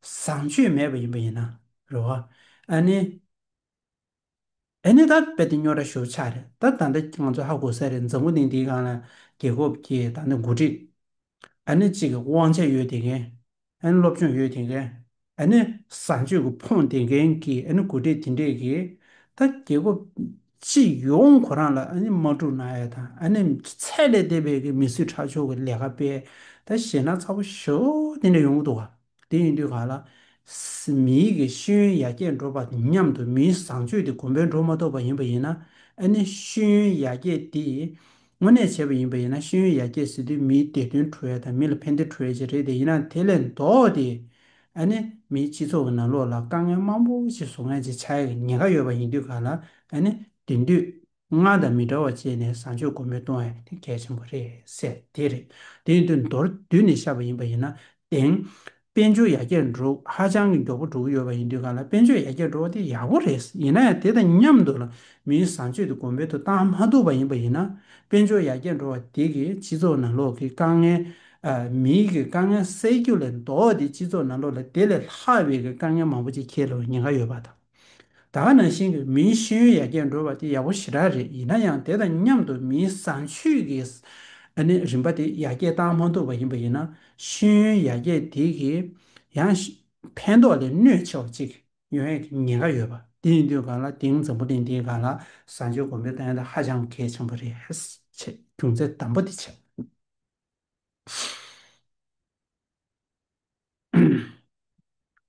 བཟང་སྤྱོད་མེད་པ་ཡིན་པ་ཡིན་ན་རེ་བ། ཨ་ནི། ཨེ་ནས་ད་དཔེ་དེ་སྨྱོ་ར་ཞོ་ཆགས་རེད་ད་ད་འདྲ་ང་ཚོ་ཧ་གོ་ས་རེད་འཛམ་བུ་གླིང་འདིའི་སྒང་ལ་རྒྱལ་ཁོབ་ཀྱི་ད་ནི་འགོ་ཁྲིད་ཨེ་ནས་གཅིག་གི་དབང་ཆ་ཡོད་དེ་མཁན་ཨེ་ནས་སློབ་སྦྱོང་ཡོད་དེ་མཁན་ཨེ་ནས་བཟང་སྤྱོད་ཀྱི་ཕོངས་དེ་མཁན་གྱི་ཨེ་ནས་འགོ་ཁྲིད་དེ་འདྲས་ཀྱི་ད་རྒྱལ་ཁོབ་སྤྱི་ཡོངས་གོ་རང་ལ་ཨེ་ནས་མ་དཀྲུག་ན་ཡག་ད་ཨེ་ནས་ཚད་ལས་འདས་པའི་མི་གསོད་ཁྲག་སྦྱོར་གྱི་ལས་ཀ་སྤེལ་ད་ཞེད་སྣང་ཚ་བོ་ཞོ་དེ་འདྲ་ཡོང་གི་འདུག་ག། དེ་ཡིན་དུས་ག་ལ་སྲིད་མིའི་གི་ཤེས་ཡོན་ཡར་རྒྱས་འགྲོ་བ་དང་མཉམ་དུ་མིའི་བཟང་སྤྱོད་དེ་གོང་འཕེལ་འགྲོ་མ་ཐུབ་པ་ཡིན་པ་ཡིན་ན་ཨ་ནི་ཤེས་ཡོན་ཡར་རྒྱས་དེས་དངོས་གནས་བྱས་པ་ཡིན་པ་ཡིན་ན་ཤེས་ཡོན་ཡར་རྒྱས་ཟེར་དུས་མིའི་བདེ་དོན་འཁྲུ་བའི་དང་མི་ལ་ཕན་བདེ་འཁྲུ་བའི་ཆེད་རེད་དེ་ཡིན་ན་དེ་ལས་ལྡོག་སྟེ་ཨ་ནི་མིའི་སྤྱི་ཚོགས་ཀྱི་ནང་ལོགས་ལ་དཀའ་ངལ་མང་པོ་ཞིག་བཟོ་མཁན་ཆེ་ཆ་ཡང་ཉེ་ག་ཡོད་པ་ཡིན་དུས་ག་ལ་ཨ་ནི་དེང་དུས། ང་དང་མི་འདྲ་བ་བྱས་ནས་བཟང་སྤྱོད་སྒོ་མོས་གཏོང་ཡ་དེ་གལ་ཆེན་པོ་རེད་ཟེར་དེ་རེད། དེ་ཡིན་དུས་མདོར་བསྡུས་ནས་བཤད་པ་ཡིན་པ་ཡིན་ན། དེང། དཔལ་འབྱོར་ཡར་རྒྱས་འགྲོ་ཧ་ཅང་གི་མགྱོགས་པོ་འགྲོ་གི་ཡོད་པ་ཡིན་དུས་གང་ལ་དཔལ་འབྱོར་ཡར་རྒྱས་འགྲོ་བ་དེ་ཡག་པོ་རེད། ཡིན་ན་ཡང་དེ་དང་མཉམ་དུ་མིའི་བཟང་སྤྱོད་དེ་གོང་འཕེལ་དུ་བཏང་མ་ཐུབ་པ་ཡིན་པ་ཡིན་ན། དཔལ་འབྱོར་ཡར་རྒྱས་འགྲོ་བ་དེ་གིས་སྤྱི་ཚོགས་ནང་ལོག་གི་དཀའ་ངལ། མིའི་གི་དཀའ་ངལ་སེལ་རྒྱུ་ལས་ལྡོག་སྟེ་སྤྱི་ཚོགས་ནང་ལོག་ལ་དེ་ལས་ལྷག་པའི་གི་དཀའ་ངལ་མང་པོ་ཅིག་ཁྱེར་ལོ་ཉེན་ཁ་ཡོད་པ་དང། ད་ག་ནང་བཞིན་གྱི་མིའི་ཤེས་ཡོན་ཡར་རྒྱས་འགྲོ་བ་དེ་ཡག་པོ་ཞེ་དྲག་རེད་ཡིན་ན་ཡང་དེ་དང་མཉམ་དུ་མིའི་བཟང་སྤྱོད་ཀྱི་རིམ་པ་དེ་ཡར་རྒྱས་བཏང་མ་ཐུབ་པ་ཡིན་པ་ཡིན་ན་ཤེས་ཡོན་ཡར་རྒྱས་དེ་གིས་ཡང་ཕན་ཐོགས་ལས་གནོད་ཆེ་བ་ཅིག་ཡོང་ཡག་གི་ཉེན་ཁ་ཡོད་པ་དེ་ཡིན་དུས་གང་ལ་དེང་འཛམ་བུ་གླིང་འདིའི་གང་ལ་བཟང་སྤྱོད་གོང་འཕེལ་བཏང་ཡང་ད་ཧ་ཅང་གལ་ཆེན་པོ་རེད་ཅེས་རྒྱུ་མཚན་དམ་པོ་དེ་བྱས།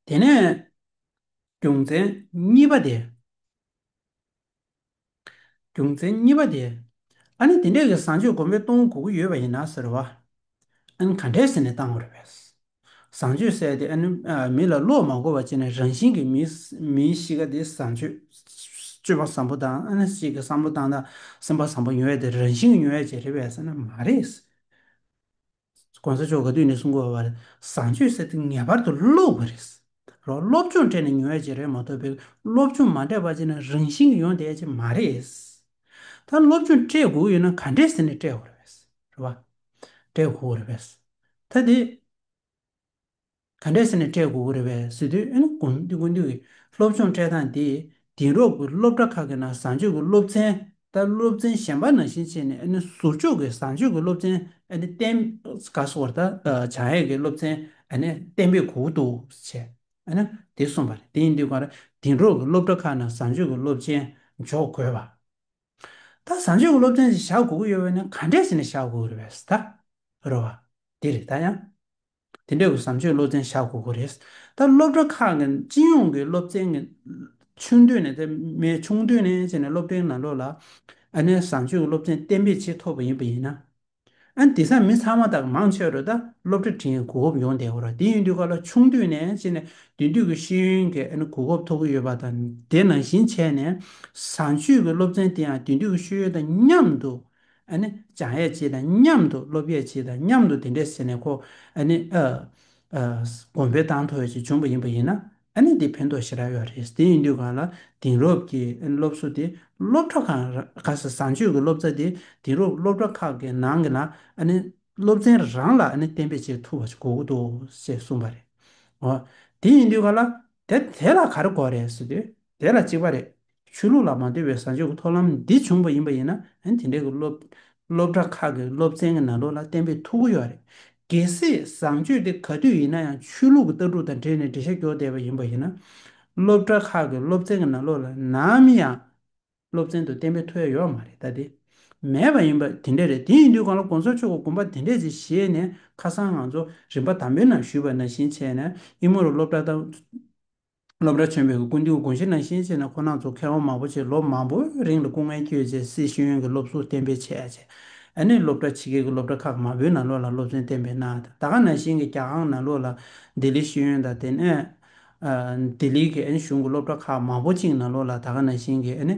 དེ་ནས་རྒྱུ་མཚན་གཉིས་པ་དེ། རྒྱུ་མཚན་གཉིས་པ་དེ། ཨ་ནི་དེ་འདྲས་ཀྱི་བཟང་སྤྱོད་སྒོམ་པའི་སྟོང་དགུ་དགུ་ཡོད་པ་ཡིན་ན་ཟེར་བ། ཨ་ནི་ག་འདྲས་ཟེར་ནས་བཏང་བ་རེད་བས། བཟང་སྤྱོད་གསལ་ཏེ་ཨ་ནི་མི་ལ་བློ་མ་འགོ་བ་བྱས་ནས་རང་བཞིན་གྱིས་མིའི་གཤིས་ཀ་དེ་བཟང་སྤྱོད། སྤྱོད་པ་བཟང་པོ་དང་ཨ་ནི་གཅིག་གི་བསམ་བློ་བཏང་ན་སེམས་པ་བཟང་པོ་ཉོ་ཡ་དེ་རང་བཞིན་གྱི་ཉོ་ཡ་བྱེད་རེད་བས་ཟེར་ན་མ་རེད། ྋགོང་ས་མཆོག་ག་དུས་ནས་བཟུང་གོ་བར་བཟང་སྤྱོད་ཟེར་དུས་ངེས་པར་དུ་བློ་བ་རེད། རོ་སློབ་སྦྱོང་སྤྲད་ནས་ཉུང་བས་ཅི་རེད་མ་ཐོབ་པའི་སློབ་སྦྱོང་མ་སྤྲད་པ་ཅི་ན་རང་བཞིན་གྱི་ཡོང་དེ་ཅི་མ་རེད། ད་སློབ་སྦྱོང་སྤྲད་དགོས་ཡོད་ན་ག་འདྲས་ཟེར་ནས་སྤྲད་དགོས་རེད། སྤྲད་དགོས་རེད། ད་དེ། ག་འདྲས་ཟེར་ནས་སྤྲད་དགོས་ཀྱི་རེད་བས་ཟེར་དུས་ཨེ་ན་དགོངས་འདུས་དགོངས་འདུས་ཀྱི་སློབ་སྦྱོང་སྤྲད་སྟངས་དེ་དེང་རབས་ཀྱི་སློབ་གྲྭ་ཁག་གི་ནང་བཟང་སྤྱོད་ཀྱི་སློབ་ཚན་ལྟར་སློབ་ཚན་གཞན་པ་ནང་བཞིན་བྱས་ནས་ཨེ་ན་ཟུར་འཇོག་གི་བཟང་སྤྱོད་ཀྱི་སློབ་ཚན་ཨེ་ན་གཏན་འག་གསོ་བར་དང་བྱང་ཡས་ཀྱི་སློབ་ཚན་ཨེ་ན་གཏན་འབེབས་གོ་དགོས་འདུག་བྱས་ཨེ་ན་དེ་གསུངས་པ་རེད་དེ་ཡིན་དུས་གང་རེད་དེང་རབས་ཀྱི་སློབ་གྲྭ་ཁག་ནང་བཟང་སྤྱོད་ཀྱི་སློབ་ཚན་འཇོག་དགོས་བ། ད་བཟང་སྤྱོད་ཀྱི་སློབ་ཚན་ཞིག་བཞག་དགོས་ཀྱི་ཡོད་བས་ན་ག་འདྲས་ཟེར་ནས་བཞག་དགོས་ཀྱི་རེད་བས་ཟེར་ད་རོ་བ། དེ་རེད་ད་ཡང། དེ་འདྲའི་བཟང་སྤྱོད་སློབ་ཚན་བཞག་དགོས་ཀྱི་རེད། ད་སློབ་གྲྭ་ཁག་གི་སྤྱི་ཡོངས་ཀྱི་སློབ་ཚན་གྱི་ཆུང་དུས་ནས་དེ་མའི་ཆུང་དུས་ནས་བྱས་ནས་སློབ་གྲྭའི་ནང་ལོགས་ལ་ཨ་ནེ་བཟང་སྤྱོད་ཀྱི་སློབ་ཚན་གཏན་འབེབས་བྱེད་ཐུབ་པ་ཡིན་པ་ཡིན་ན། ཨ་དེ་སང་མི་ཚང་མ་དག་མང་ཆེ་བར་ད་སློབ་གྲྭ་དེའི་གོ་སྐབས་ཡོང་བསྡད་ཀྱི་རེད། དེ་ཡིན་དུས་ཁ་ལ་ཆུང་དུས་ནས་བྱས་ནས་བདུན་དུས་ཀྱི་ཤེས་ཡོན་གྱི་གོ་སྐབས་ཐོབ་ཀྱི་ཡོད་པ་དང་དེ་ནང་བཞིན་བྱས་ནས་བཟང་སྤྱོད་ཀྱི་སློབ་ཚན་དེའང་བདུན་དུས་ཀྱི་ཤེས་ཡོན་དང་མཉམ་དུ་ཨ་ནི། སྦྱངས་ཡས་སྤྱི་དང་མཉམ་དུ་སློབ་ཡས་སྤྱི་དང་མཉམ་དུ་དེ་འདྲས་ཟེར་ནས་ཁོ། ཨ་ནི། གོམ་པའི་དང་ཐོ་ཡོད་ཅེས་འབྱུང་བ་ཡིན་པ་ཡིན་ན། ཨ་ནི་དེ་ཕན་ཐོགས་ཞེ་དྲག་ཡོད་རེད། དེ་ཡིན་དུས་གང་ལ་དེང་རབས་ཀྱི་སློབ་གསོ་དེ་སློབ་གྲྭ་ཁང་ག་ས་བཟང་སྤྱོད་ཀྱི་སློབ་ཚ་དེ་དེང་རབས་སློབ་གྲྭ་ཁག་གི་ནང་གི་ན་ཨ་ནི། སློབ་ཚན་རང་ལ་ཨ་ནི་གཏན་འབེབས་བྱེད་ཐུབ་པ་ཞིག་གོ་གི་འདུག་ཅེས་གསུངས་པ་རེད། འོ། དེ་ཡིན་དུས་གང་ལ། དེ་དེ་ལ་ག་རེ་གོ་རེད་ཟེར་དུས། དེ་ལ་གཅིག་པ་རེད། ཆོས་ལུགས་ལ་མ་འདོད་པའི་བཟང་སྤྱོད་ཀྱི་ཐོབ་ལམ་འདི་བྱུང་བ་ཡིན་པ་ཡིན་ན་དེ་འདྲའི་སློབ་གྲྭ་ཁག་གི་སློབ་ཚན་གྱི་ནང་དོན་ལ་བསྟན་པའི་ཐུགས་ཁུར་ཡོད་རེད། གལ་སྲིད་བཟང་སྤྱོད་དེ་ག་དུས་ཡིན་ན་ཡང་ཆོས་ལུགས་ཀྱི་ལྟ་གྲུབ་དང་འབྲེལ་ནས་འགྲེལ་བཤད་འགྱོག་བསྡད་པ་ཡིན་པ་ཡིན་ན། སློབ་གྲྭ་ཁག་གི་སློབ་ཚན་གྱི་ནང་ལོགས་ལ་ནམ་ཡང་སློབ་ཚན་དུ་བསྟན་པའི་ཐུགས་ཡ་ཡོད་མ་རེད་ད་དེ་མེད་པ་ཡིན་པ་དེ་འདྲ་རེད་དེ་ཡིན་དུས་གང་ལ་གོང་ས་མཆོག་གི་དགོངས་པ་དེ་འདྲས་ཅིག་བཞེས་ནས་ཁ་སང་ང་ཚོ་རིམ་པ་དང་པོའི་ནང་ཞུས་པ་ནང་བཞིན་བྱས་ན་དབྱིན་མོ་རུ་སློབ་གྲྭ་དང། སློབ་གྲྭ་ཆེན་མོའི་དགོན་སྡེའུ་དགོན་ཕྱི་ནང་གཤེན་བྱེད་ནང་ཁོ་ནང་ཚོ་མཁས་དབང་མང་པོ་ཆེ་ལོ་མང་པོའི་རིང་ལ་སྐུ་ངལ་བསྐྱོད་རྗེས་སྲིད་གཞུང་གི་སློབ་གསོ་གཏན་འབེབས་བྱས་རྗེས་ཨ་ནེ་སློབ་གྲྭ་ཕྱི་རྒྱལ་གྱི་སློབ་གྲྭ་ཁག་མང་པོའི་ནང་ལོགས་ལ་སློབ་ཚན་གཏན་འབེབས་གནང་ཡོད་ད་ག་ནང་བཞིན་གྱི་རྒྱ་ཨང་ནང་ལོགས་ལ་ལྡི་ལི་ཤེས་ཡོན་དང་དེ་ནས་ལྡི་ལི་གི་ཨ་ནེ་གཞུང་གི་སློབ་གྲྭ་ཁག་མང་པོ་གཅིག་ནང་ལོགས་ལ་ད་ག་ནང་བཞིན་གྱི་ཨ་ནེ་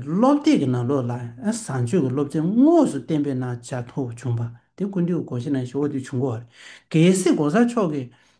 སློབ་དེབ་ཀྱི་ནང་ལོགས་ལ་བཟང་སྤྱོད་ཀྱི་སློབ་ཚན་དངོས་སུ་གཏན་འབེབས་གནང་བྱ་ཐུབ་བྱུང་བ་དེ་སྐུ་མདེའུ་དགོན་ཕྱི་ནང་གཞོགས་འདེགས་བྱུང་གོ་གལ་སྲིད་གོང་ས་མཆོག་གིས་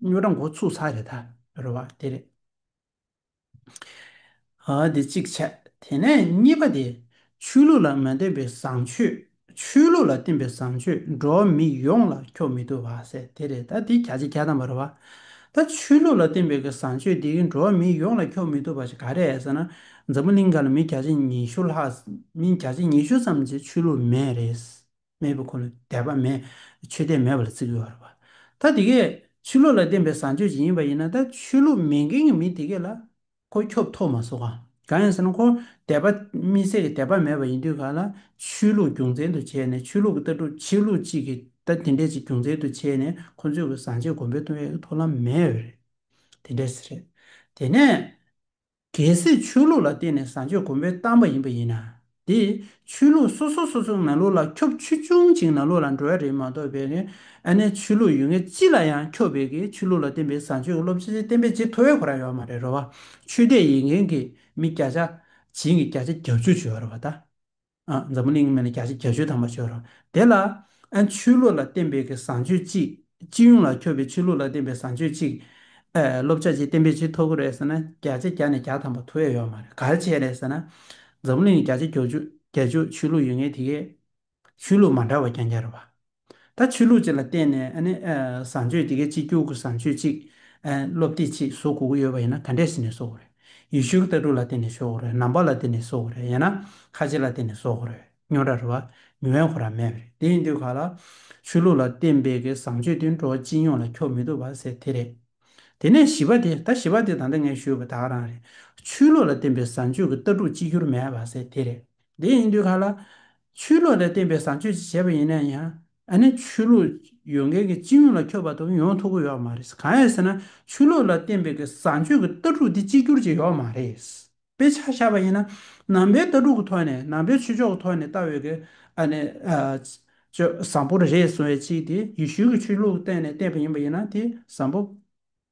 སྨྱོ་སྦྲང་འགོ་ཚུགས་ས་རེད་ད་རེད་བ་དེ་རེད། དེ་གཅིག་བྱས་དེ་ནས་གཉིས་པ་དེ་ཆོས་ལུགས་ལ་མ་བསྟེན་པའི་བཟང་སྤྱོད་ཆོས་ལུགས་ལ་བསྟེན་པའི་བཟང་སྤྱོད་འགྲོ་བ་མི་ཡོངས་ལ་འཁྱོག་མི་ཐུབ་བ་ཟེར་དེ་རེད་ད་དེ་ག་ཅིག་ག་དང་བ་རེད་བ། ད་ཆོས་ལུགས་ལ་བསྟེན་པའི་གི་བཟང་སྤྱོད་དེ་གི་འགྲོ་བ་མི་ཡོངས་ལ་འཁྱོག་མི་ཐུབ་བ་ཞིག་ག་རེད་ཟེར་ན་འཛམ་བུ་གླིང་ག་ལ་མི་གྱ་བྱེད་ཉི་ཤུ་ལྷག་མི་གྱ་བྱེད་ཉི་ཤུ་ཙམ་གྱི་ཆོས་ལུགས་མེད་རེད། སྨྲས་པའི་འཁོར་ལོ་དད་པ་མེད་ཆོས་དད་མེད་པ་ལ་བརྩི་དགོས་བ་རེད་བ། ད་དེ་གས་ཆོས་ལུགས་ལ་བརྟེན་པའི་བཟང་སྤྱོད་ཅིག་ཡིན་པ་ཡིན་ན་ད་ཆོས་ལུགས་མེད་མཁན་གྱི་མི་དེ་གས་ལ་ཁོ་ཁྱོབ་ཐོབ་མ་སོ་ག་གང་ཡིན་ཟེར་ན་ཁོ་དད་པ་མི་ཟད་ཀྱི་དད་པ་མེད་པ་ཡིན་དུས་ག་ལ་ཆོས་ལུགས་རྒྱུ་མཚན་དུ་བྱས་ནས་ཆོས་ལུགས་ཀྱི་ལྟ་གྲུབ་ཆོས་ལུགས་གཅིག་གི་ད་དེ་འདྲས་ཅིག་རྒྱུ་མཚན་དུ་བྱས་ནས་ཁོ་ཚོས་གི་བཟང་སྤྱོད་གོང་འཕེལ་གཏོང་ཡས་ཀྱི་ཐོབ་ལམ་མེད་བས་རེད་དེ་འདྲས་ཟེར་རེད་དེ་ནས། གལ་སྲིད་ཆོས་ལུགས་ལ་བརྟེན་ནས་བཟང་སྤྱོད་གོང་འཕེལ་བཏང་པ་ཡིན་པ་ཡིན་ན། དེས་ཆོས་ལུགས་སོ་སོ་སོ་སོའི་ནང་ལུགས་ལ་ཁྱོ་ཆུ་ཆུང་ཅིང་ནང་ལུགས་ལ་འགྲོ་ཡ་རེད་མ་གཏོགས་པའི་ནི་ཨ་ནེ་ཆོས་ལུགས་ཡུལ་ངེས་ཅི་ལ་ཡང་ཁྱོ་བས་ཀྱི་ཆོས་ལུགས་ལ་བརྟེན་པའི་བཟང་སྤྱོད་ཀྱི་སློབ་ཆེན་ཆེན་བསྟན་པའི་རྗེས་ཐོ་བས་གོ་ར་ཡོད་མ་རེད་རོ་བ་ཆོས་དད་ཡིན་མཁན་གྱི་མི་བརྒྱ་ཆ་བྱིན་གྱི་བརྒྱ་ཆ་བརྒྱ་བཅུ་བྱོས་རོ་བ་ད། འཛམ་བུ་གླིང་གི་མན་ལ་རྒྱ་ཆོས་དམ་པ་བྱོས་རོགས། དེ་ལ། ཆོས་ལུགས་ལ་བརྟེན་པའི་བཟང་སྤྱོད་གཅིག། སྤྱི་ཡོངས་ལ་ཁྱོ་བའི་ཆོས་ལུགས་ལ་བརྟེན་པའི་བཟང་སྤྱོད་གཅིག། སློབ་བྱ་ཆེད་བརྟེན་པའི་ཆེད་ཐོག་གི་རེད་ཟེར་ན་རྒྱ་ཆ་རྒྱ་ནས་རྒྱ་དམ་པ་ཐུ་ཨེ་ཡོད་མ་རེད་ག་རེ་བྱས་རེད་ཟེར་ན། འཛམ་བུ་གླིང་ལ་རྒྱ་ཆ་རྒྱ་ཆོས་ཆོས་ལུགས་ཡོད་ངེས་དེ་གས། ཆོས་ལུགས་མ་འདྲ་བ་རྒྱ་འགྱར་བ། ད་ཆོས་ལུགས་བཅས་ལ་བརྟེན་ནས་བཟང་སྤྱོད་དེ་གའི་སྤྱི་རྒྱུག་གི་བཟང་སྤྱོད་ཅིག་སློབ་དེབ་ཅིག་བཟོ་དགོས་ཀྱི་ཡོད་པ་ཡིན་ན་ག་འདྲས་ཟེར་ནས་བཟོ་དགོས་རེད། ཡུལ་ཤུལ་ལྟ་གྲུབ་ལ་བརྟེན་ནས་བཟོ་དགོས་རེད་ནམ་བག་ལ་བརྟེན་ནས་བཟོ་དགོས་རེད་ཡང་ན་ཁ་ལྕེ་ལ་བརྟེན་ནས་བཟོ་དགོས་རེད་སྨྱོ་ར་རེད་བ་མི་དབེན་ཁོ་ར་མེད་པ་རེད་དེ་ཡིན་དུས་ག་ལ་ཆོས་ལུགས་ལ་བརྟེན་པའི་གི་བཟང་སྤྱོད་དེ་འགྲོ་བ་སྤྱི་ཡོངས་ལ་ཁྱོག་མི་ཐུབ་བ་ཟེར་དེ་རེད། དེ་ནས་བཞི་བ་དེ་ད་བཞི་བ་དེ་ད་ལྟ་ངས་ཞུས་པ་དག་རང་རེད། ཆོས་ལུགས་ལ་བརྟེན་པའི་བཟང་སྤྱོད་གི་ལྟ་གྲུབ་གཅིག་གྱུར་མེད་བ་ཟེར་དེ་རེད། དེ་ཡིན་དུས་ག་ལ། ཆོས་ལུགས་ལ་བརྟེན་པའི་བཟང་སྤྱོད་ཅིག་བྱས་པ་ཡིན་ན་ཡང། ཨ་ནི་ཆོས་ལུགས་ཡོད་མཁན་གྱི་སྤྱི་ཡོངས་ལ་ཁྱོད་བར་དོ་ཡོང་ཐུབ་ཀྱི་ཡོད་མ་རེད། གང་ཡིན་ཟེར་ན་ཆོས་ལུགས་ལ་བརྟེན་པའི་བཟང་སྤྱོད་ཀྱི་ལྟ་གྲུབ་དེ་གཅིག་གྱུར་ཅིག་ཡོད་མ་རེད། དཔེ་ཆ་བཞག་པ་ཡིན་ན། ནང་པའི་ལྟ་གྲུབ་ཀྱི་ཐོག་ནས་ནང་པའི་ཆོས་ཕྱོགས་ཀྱི་ཐོག་ནས་ལྟ་བའི་གི་ཨ་ནི། བཟང་པོ་རེད་གསུང་བའི་ཆེད་དེ་ཡེ་ཤུའི་གྱི་ཆོས་ལུགས་གཏན་ནས་བརྟེན་པ་ཡིན་པ་ཡིན་ན་དེ་བཟང་པོ།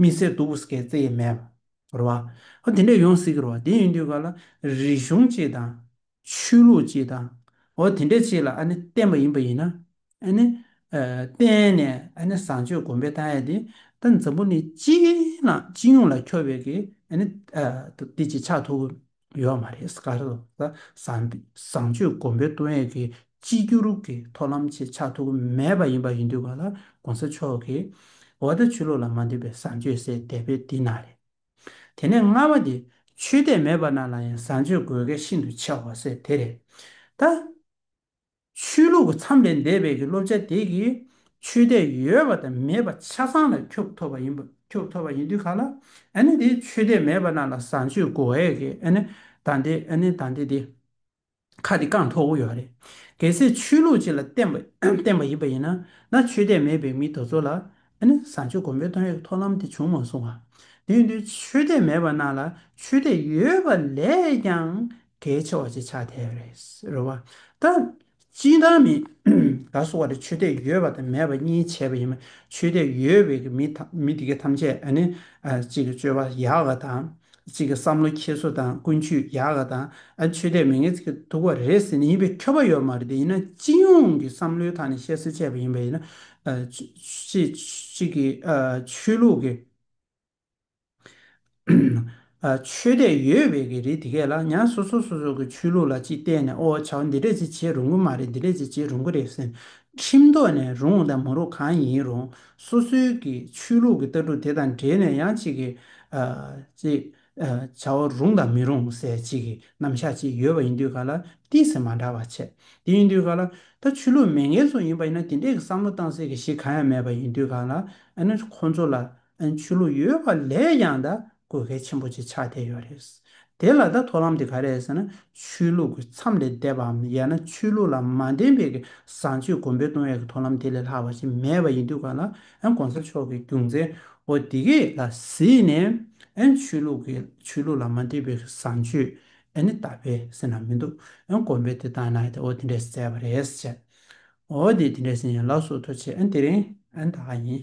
མི་བཟད་གདུག་པོ་སྐེ་རྩེ་ཡས་མས་བོར་བ། ཧོ་དེ་འདྲས་ཡོང་སྲིད་ཀྱི་རེད་བ། དེ་ཡིན་དུས་ག་ལ་རིག་གཞུང་སྤྱི་དང། ཆོས་ལུགས་སྤྱི་དང། འོ་དེ་འདྲས་སྤྱི་ལ་ཨ་ནི་བསྟན་པ་ཡིན་པ་ཡིན་ན། ཨ་ནི། བསྟན་ནས་ཨ་ནི་བཟང་སྤྱོད་གོམས་པའི་ལྟ་ཡ་དེ། ད་འཛམ་བུ་ནི་སྤྱི་ཡིན་ན་སྤྱི་ཡོངས་ལ་འཁྱོར་བའི་གི་ཨ་ནི། དེ་ཅིག་ཆགས་ཐུབ། ཡོད་མ་རེད་སྐ་རེད་བཟང་བཟང་སྤྱོད་སྒོམ་པའི་ཏུ་ཡན་གྱི་གཅིག་གྱུར་གྱི་མཐོ་ལམ་ཆེད་ཆགས་ཐུག་གི་མེད་པ་ཡིན་པ་ཡིན་དུས་ག་ལ་གོང་ས་མཆོག་གི་འོ་ད་ཆོས་ལུགས་ལ་མ་འདུས་པའི་བཟང་སྤྱོད་ཟེར་བསྡད་པའི་འདི་ན་རེད། དེ་ནས་ལྔ་བ་དེ་ཆོས་དད་མེད་པ་རྣམས་ལ་ཡང་བཟང་སྤྱོད་དགོས་གལ་ཤིན་ཏུ་ཆེ་བ་ཟེར་དེ་རེད་ད། ཆོས་ལུགས་ཀྱི་མཚམས་ལས་འདས་པའི་གི་སློབ་བྱ་དེ་གིས་ཆོས་དད་ཡོད་པ་དང་མེད་པ་ཆ་ཚང་ལ་ཁྱོབ་ཐོབ་པ་ཡིན་པ་ཁྱོབ་ཐོབ་པ་ཡིན་དུས་ག་ལ་ཨ་ནི་དེ་ཆོས་དད་མེད་པ་རྣམས་ལ་བཟང་སྤྱོད་དགོ་ཨེ་གི་ཨ་ནི་ད་འདི་ཨ་ནི་ད་འདི་དེ་ཁ་དེ་བཀང་ཐོག་གོ་ཡོད་རེད་གལ་སྲིད་ཆོས་ལུགས་གཅིག་ལ་བརྟེན་པ་བརྟེན་པ་ཡིན་པ་ཡིན་ན་ན་ཆོས་དད་མེད་པའི་མི་དོ་ཚོ་ལ་ཨ་ནི་བཟང་སྤྱོད་དགོ་འབད་བཏང་ཡོད་གི་ཐོག་ལམ་དེ་བྱུང་མ་སོང་བ་དེ་ཡིན་དུས་ཆོས་དད་མེད་པ་རྣམས་ལ་ཆོས་དད་ཡོད་པ་ལས་ཀྱང་དེའི་ཆེ་བ་ཅིག་ཆགས་ཐལ་བ་རེད། རེད་བ། ད། སྤྱིན་བཏང་མིན། ད་གསོ་བ་དེ་ཆོས་དད་ཡོད་པ་དང་མེད་པ་གཉིས་བྱས་པ་ཡིན་མོད་ཆོས་དད་ཡོད་བའི་གི་མི་དང་མི་དེ་གས་ཐམས་ཅད་ཨ་ནི། གཅིག་གི་སྤྱོད་པ་ཡག་ག་དང། གཅིག་གི་བསམ་བློ་འཁྱེར་སོ་དང་ཀུན་སྤྱོད་ཡག་ག་དང་ཨ་ཆོས་དད་མི་ངན་ཚིག་གི་དུག་བ་རེད་ཟེར་ནི་ཡིན་པའི་ཁྱོ་པ་ཡོད་མ་རེད་དེ་ཡིན་ན་སྤྱི་ཡོངས་གི་བསམ་བློའི་ཐག་ནས་བཤད་སེ་བཤད་པ་ཡིན་པ་ཡིན་ན། ཅི་ཅིག་གི་ཆོས་ལུགས་གི། ཆོས་དད་ཡོད་བས་ཀྱི་རེད་དེ་གས་ལ་ཉག་སོ་སོ་སོ་སོ་གི་ཆོས་ལུགས་ལ་ཅིག་བལྟས་ནས་ཨོ་བྱ་བ་འདི་འདྲས་ཅིག་བྱེད་རུང་གི་མ་རེད་འདི་འདྲས་ཅིག་བྱེད་རུང་གི་རེད་ཟེར་ཁྲིམས་ཐོག་ནས་རུང་དང་མ་རུང་གང་ཡིན་རུང་སོ་སོའི་གི་ཆོས་ལུགས་ཀྱི་ལྟ་གྲུབ་དེ་དང་འབྲེལ་ནས་ཡང་ཅིག་གི་ཅིག་བྱ་བ་རུང་དང་མི་རུང་ཟེར་ཅིག་གི་རྣམ་གཞག་ཅིག་ཡོད་བ་ཡིན་དུས་ག་ལ་ཏི་ཟེར་མ་འདྲ་བ་བྱེད་དེ་ཡིན་དུས་ག་ལ་ད་ཆོས་ལུགས་མེད་མཁན་ཚོ་ཡིན་པ་ཡིན་ན་དེ་འདྲས་ཀྱི་བསམ་བློ་བཏང་སེ་གི་ཞིག་གང་ཡང་མེད་པ་ཡིན་དུས་ག་ལ་ཨ་ནི་ཁོང་ཚོ་ལ་ཆོས་ལུགས་ཡོད་པ་ལས་ཡང་དག་དགོས་གལ་ཆེན་པོ་ཅིག་ཆགས་བསྡད་ཡོད་རེད། དེ་ལ་བརྡ་ཐོ་ལམ་དེ་ག་རེད་ཟེར་ན་ཆོས་ལུགས་ཀྱི་མཚམས་ལས་འདས་པའམ་ཡང་ན་ཆོས་ལུགས་ལ་མ་འདེམས་པའི་བཟང་སྤྱོད་གོང་འཕེལ་གཏོང་ཡག་གི་ཐོ་ལམ་དེ་ལས་ལྷག་པ་ཞིག་མེད་པ་ཡིན་དུས་གང་ལ་གོང་ས་མཆོག་གི་རྒྱུ་མཚན་འོ་དེ་གས་ལ་གཟིགས་ནས་ཆོས་ལུགས་ཀྱི་ཆོས་ལུགས་ལ་མ་འདེམས་པའི་བཟང་སྤྱོད་ནི་ད་བས་སེ་ན་མི་འདུག་གོང་འཕེལ་དེ་དང་ནའི་འོ་དེ་འདྲས་བསྩལ་བ་རེད་ཟེར། འོ་དེ་དེ་འདྲས་ཟིན་ཡང་ལགས་སོ་ཐོ་ཆེ་དེ་རིང་དག་ཡིན།